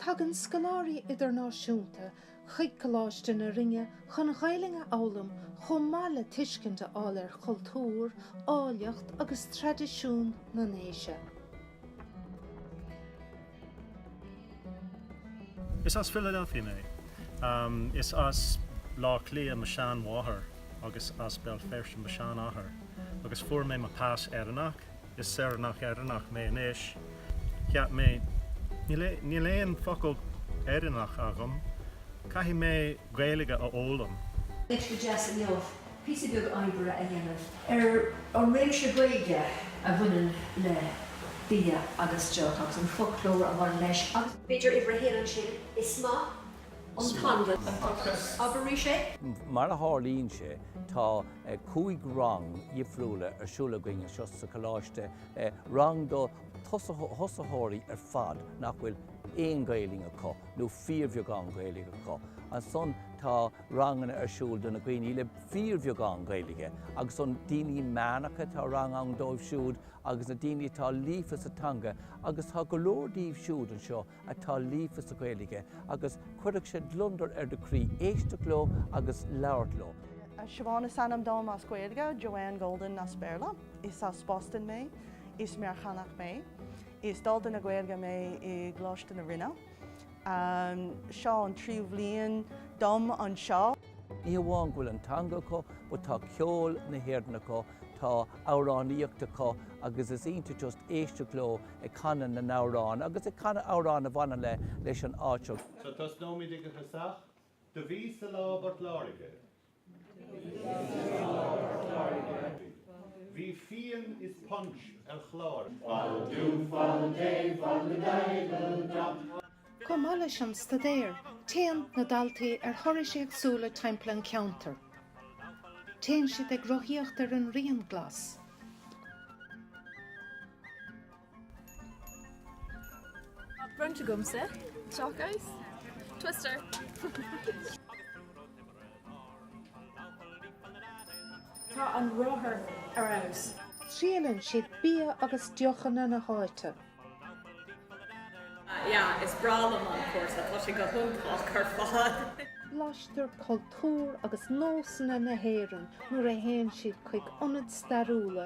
Tagann scoláirí idirnáisiúnta chuig Coláiste na Rinne chun Gaelainn a fhoghlaim chomh maith le tuiscint a fháil ar chultúr, áilleacht agus traidisiún na nDéise. Is as Philadelphia mé. Is as B'leá Cliath mo sheanmháthair agus as Béal Feirste mo sheanathair agus fuair mé mo pas Éireannach. Is saoránach Éireannach mé anois. Cheap mé níl aon focal Éireannach agam, caithfidh mé Gaeilge a fhoghlaim. Oíche deas inniu píosa beag oibre a dhéanamh ar an réimse Gaeilge a bhaineann le bia agus deoch agus an foclóir a bhain leis agus. b'fhéidir uimhir a haon ansin. Is maith an t-anlann atá acu. Abair arís é? Mar a tharlaíonn sé, tá cúig rang dhifriúla ar siúl againn anseo sa choláiste, rang do thosaitheoirí ar fad nach bhfuil aon Ghaelainn acu nó fíorbheagán Gaelainn acu. Ansan tá. ranganna ar siúl do na daoine le fíorbheagán Gaeilge agus do na daoine meánacha, tá rang ann dóibh siúd agus na daoine atá líofa sa teanga agus tá go leor díobh siúd anseo atá líofa sa Ghaeilge agus chuirfeadh sé gliondar ar do chroí éisteacht leo agus labhairt leo. Siobhán is ainm dom as Gaeilge, Joanne Golden as Béarla. Is as Boston mé. Is Meiriceánach mé. Is dalta na Gaeilge mé i gColáiste na Rinne. Seo an tríú bhliain dom anseo. Ní amháin go bhfuil an teanga acu, but tá ceol na hÉireann acu, tá amhránaíocht acu agus is iontach just éisteacht leo ag canadh na n-amhrán agus ag canadh amhrán a bhaineann le, leis an áit seo. So tosnóimid ag an tosach. Do bhíos-sa lá i bPort Láirge. Bhí fíon is punch ar chlár. Chomh maith leis an staidéar, téann na daltaí ar thurais éagsúla timpeall an cheantair. Téann siad ag rothaíocht ar an Rian Glas. Bronnta agamsa, teach abhus. Twister. Tá an rothar ar fheabhas. Triaileann siad bia agus deochanna na háite. Yeah, is breá liom an cúrsa, tá sé go hiontach ar fad! Blaishtear cultúr agus nósanna na hÉireann nuair a théann siad chuig ionaid stairiúla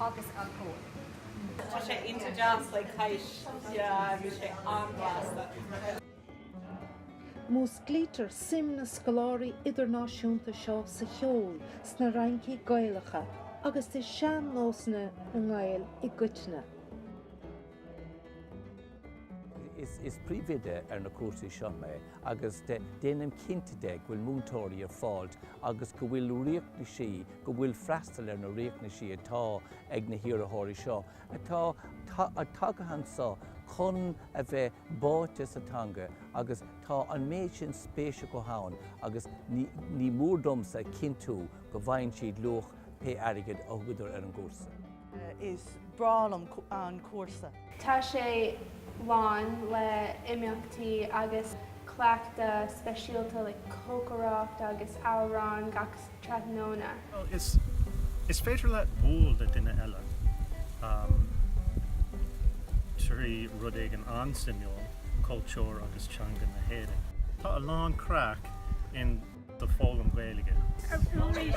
agus an Comhar. Tá sé insa deas like this yeah bhí sé an-bhlasta. Músclaítear suim na scoláirí idirnáisiúnta seo sa cheol, sna raincí Ghaelacha agus i sean-nósanna na nGael i gcoitinne. Is príomhoide ar na cúrsaí seo mé agus déanaim cinnte de go bhfuil múinteoirí ar fáilt agus go bhfuil riachtanaisí, go bhfuil freastal ar na riachtanaisí atá ag na hiarrathóirí seo atá tagtha anso chun a bheith báite sa teanga agus tá an méid sin spéis acu ann agus ní mór domsa a chinntiú go bhfaigheann siad luach pé airgid a thugadar ar an gcúrsa. is breá liom an cúrsa. Tá sé lán le imeachtaí agus cleachtadh speisialta like cócaireacht agus amhráin gach tráthnóna. Bhuel is is féidir leat bualadh le duine eile um trí rud éigin an-suimiúil cultúr agus teanga na hÉireann. Tá a lán craic in do foghlaim Gaeilge. Arís!